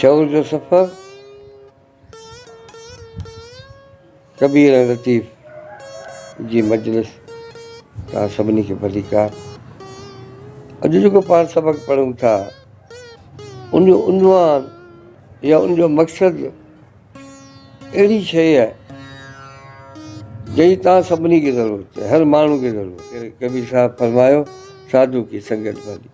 شعور جو سفر ڪبير ۽ لطيف جي مجلس تان سڀني کي ڀليڪار اڄ جيڪو پاڻ سبق پڙهون ٿا ان جو عنوان يا ان جو مقصد اهڙي شيء آهي جنهن تان سڀني کي ضرورت هر ماڻهو کي ضرورت ڪبير صاحب فرمايو ساڌو ڪي سنگت ڀلي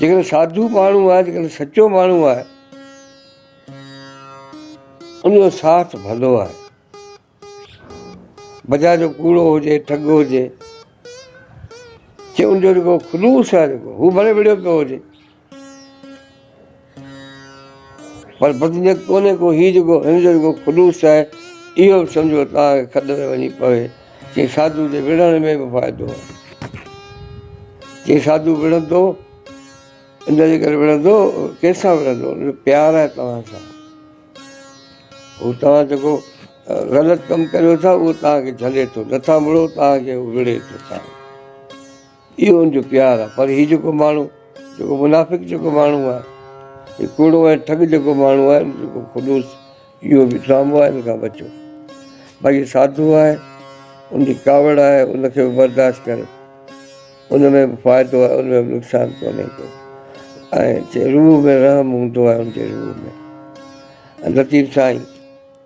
جيڪڏهن ساڌو ماڻهو آهي جيڪڏهن سچو ماڻهو آهي ان جو ساٿ ڀلو آهي بجا جو ڪوڙو هجي ٺڳ هجي جي ان جو جيڪو خلوص آهي جيڪو هو ڀلي وڙهيو پيو هجي پر بدنيت ڪونهي ڪو هي جيڪو هن جو جيڪو خلوص آهي اهو به سمجهو توهان کي کڏ ۾ وڃي پوي چي ساڌو جي وڙهڻ ۾ به فائدو آهي چي ساڌو وڙهندو ان جي ڪري وڙهندو ڪنهن سان وڙهندو ان جو پيار آهي توهان سان هو توهان جيڪو غلط ڪم ڪريو ٿا اهو توهان کي جهلي ٿو نٿا مڙو توهان کي هو وڙهي ٿو اهو ان جو پيار آهي پر هي جيڪو ماڻهو جيڪو منافق جيڪو ماڻهو آهي هي ڪوڙو ۽ ٺڳ جيڪو ماڻهو آهي جيڪو خلوص اهو به ڊرامو آهي ان کان بچو باقي ساڌو آهي ان جي ڪاوڙ آهي ان کي به برداشت ڪريو ان ۾ به فائدو آهي ان ۾ به نقصان ڪونهي ڪو ۽ روح ۾ رحم هوندو آهي ان جي روح ۾ لطيف سائين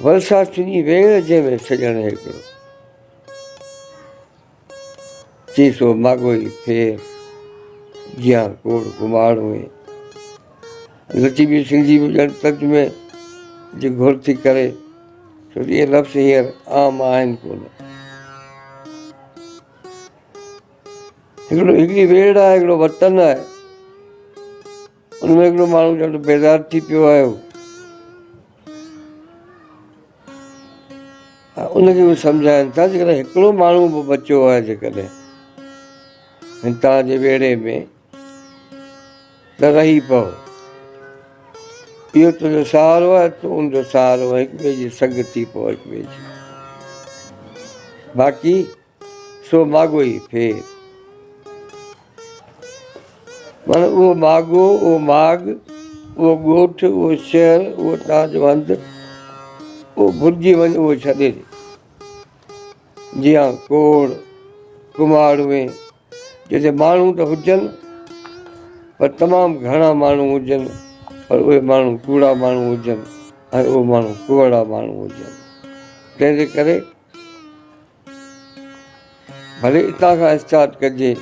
ورساٿني ويڙهه جنهن ۾ سڄڻ هيڪڙو، چي سو ماڳوئي ڦير، جيان ڪوڙ ڪماڙ هئي. لطيفي سنڌي به ڄڻ ترجمي جي گهر ٿي ڪري، ڇو ته اهي لفظ هينئر عام آهن ڪونه. هڪڙي ويڙهه آهي، هڪڙو وطن آهي. ان ۾ هڪڙو ماڻهو ڄڻ بيدار ٿي پيو آيو ۽ ان کي اهي سمجهائن ٿا جيڪڏهن هڪڙو ماڻهو به بچيو آهي جيڪڏهن هن توهان جي ويڙهي ۾ ته رهي پو اهو تنهنجو سهارو آهي تو ان جو سهارو آهي هڪ ٻئي جي سنگ ٿي پو هڪ ٻئي جي باقي سو ماڳو ئي ڦير. معنيٰ اهو ماڳو، اهو ماڳ، اهو ڳوٺ، اهو شهر، اهو توهان جو هنڌ، اهو ڀلجي وڃ، اهو ڇڏي ڏي. جيان ڪوڙ، ڪماڙوئي، جتي ماڻهو ته هجن، پر تمام گهڻا ماڻهو هجن، پر اهي ماڻهو ڪوڙا ماڻهو هجن ۽ اهي ماڻهو ڪوڙا ماڻهو هجن. تنهن جي ڪري. ڀلي اتان کان اسٽارٽ ڪجي.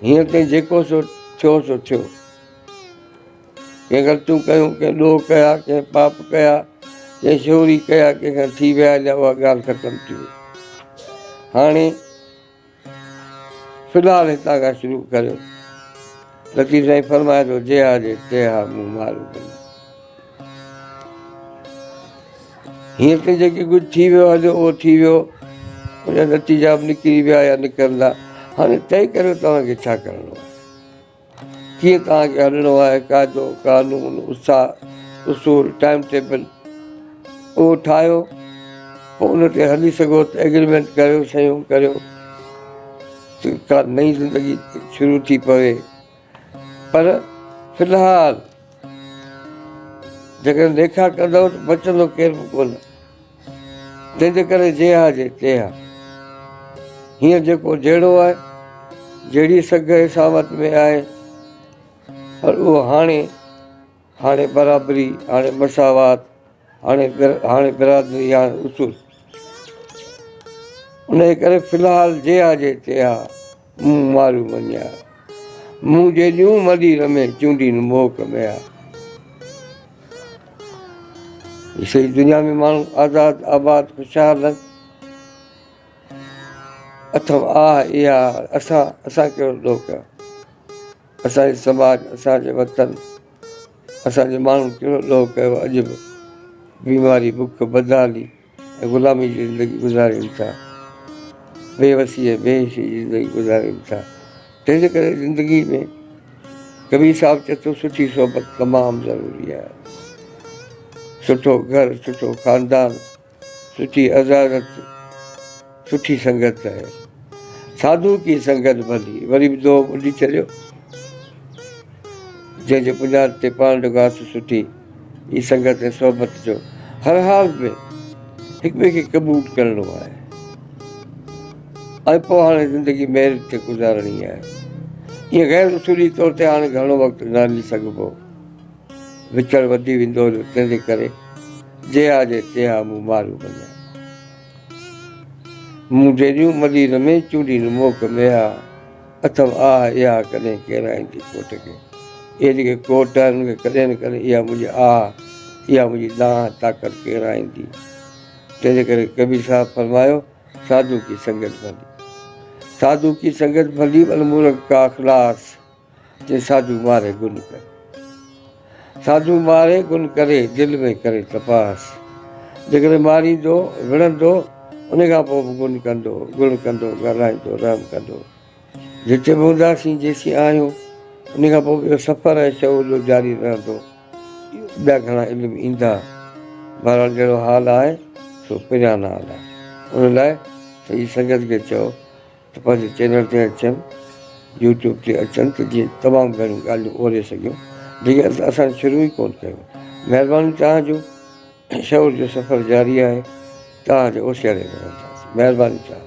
هينئر تائين جيڪو سو ٿيو سو ٿيو. ڪنهن غلطيون ڪيون، ڪنهن ڏوهه ڪيا، ڪنهن پاپ ڪيا، ڪنهن شوري ڪيا، ڪنهن کان ٿي ويا جا اها ڳالهه ختم ٿي وئي. هاڻي في الحال هتان کان شروع ڪريو. لطيف سائين فرمايو ٿو جيها جي تيها مون مارو ڪيو. هيئن ته جيڪي ڪجهه ٿي ويو آهي جو اهو ٿي ويو ان جا نتيجا به نڪري ويا يا نڪرندا هاڻي طئي ڪريو توهان کي ڇا ڪرڻو آهي. ڪيئن توهان کي هلڻو آهي، قاعدو، قانون، اتساهه، اصول، ٽائيم ٽيبل اهو ٺاهيو پوء ان تي هلي سگهو ته ايگريمينٽ ڪريو صحيحون ڪريو ته ڪا نئين زندگي شروع ٿي پوي پر في الحال جيڪڏهن نيڪا ڪندؤ ته بچندو ڪير به ڪونه تنهنجي ڪري جي ها جي تي ها. هينئر جيڪو جهڙو آهي، جهڙي سگهه اساوت ۾ آهي، پر اهو هاڻي، هاڻي برابري، هاڻي مساوات، هاڻي هاڻي برادري، هاڻي اصول. انهيء ڪري في الحال جي ها جي تي ها. مون مارو مڃيا، مون جيڏيون مڏي رمي چونڊين موڪ ميا. سڄي دنيا ۾ ماڻهو آزاد آباد خوشحال هن. اٿم آهه اها اسان اسان ڪهڙو ڏوهه ڪيا. اسان جي سماج اسان جي وطن اسان جي ماڻهن ڪهڙو ڏوهه ڪيو اڄ به بيماري بک بدحالي. ۽ غلامي جي زندگي گذارين ٿا، بي وسي ۽ بي حسي جي زندگي گذارين ٿا، تنهنجي ڪري زندگي ۾ ڪبير صاحب چئي ٿو سٺي صحبت تمام ضروري آهي، سٺو گهر، سٺو خاندان، سٺي عزازت، سٺي سنگت ته آهي ساڌو ڪي سنگت ڀلي. وري به دوهه ٻڌي ڇڏيو جنهن جي بنياد تي پاڻ جو گاٿو سٺي ئي سنگت ۽ صحبت جو هر حال ۾ هڪ ٻئي کي قبول ڪرڻو آهي ۽ پوء هاڻي زندگي ميرٽ تي گذارڻي آهي ائين غير اصولي طور تي هاڻي گهڻو وقت نه هلي سگهبو وڇڙ وڌي ويندو هليو تنهنجي ڪري جي آ جي تي آ مون ماريو وڃان مون جهڙيون ملي رمي چونڊي نموڪ ميا اٿم آه اها ڪڏهن ڪيرائين ٿي ڪوٽ کي اهي جيڪي ڪوٽ آهن ان کي ڪڏهن نه ڪڏهن اها منهنجي آه اها منهنجي دانهن طاقت ڪيرائيندي تنهن جي ڪري ڪبير صاحب فرمايو ساڌو ڪي سنگت ڀلي ساڌو ڪي سنگت ڀلي ولمورڪ ڪا خلاص جي ساجو ماري گل ڪري ساجو ماري گل ڪري دل ۾ ڪري تپاس جيڪڏهن ماريندو وڙهندو ان کان پوء به گل ڪندو گل ڪندو ڳالهائيندو رحم ڪندو جتي به هونداسين جيسين آهيون ان کان پوء به سفر ۽ شعور جو جاري رهندو ٻيا گهڻا علم ايندا بهرحال جهڙو حال آهي سو پريان حال آهي ان لاء سڄي سنگت کي چئو ته پنهنجي چينل تي اچن يوٽيوب تي اچن ته جيئن تمام گهڻيون ڳالهيون اوري سگهيون جيڪي اصل اسان شروع ئي ڪون ڪيون مهرباني توهان جو شعور جو سفر جاري آهي توهان جي اوسيئڙي ۾ رهنداسين مهرباني توهان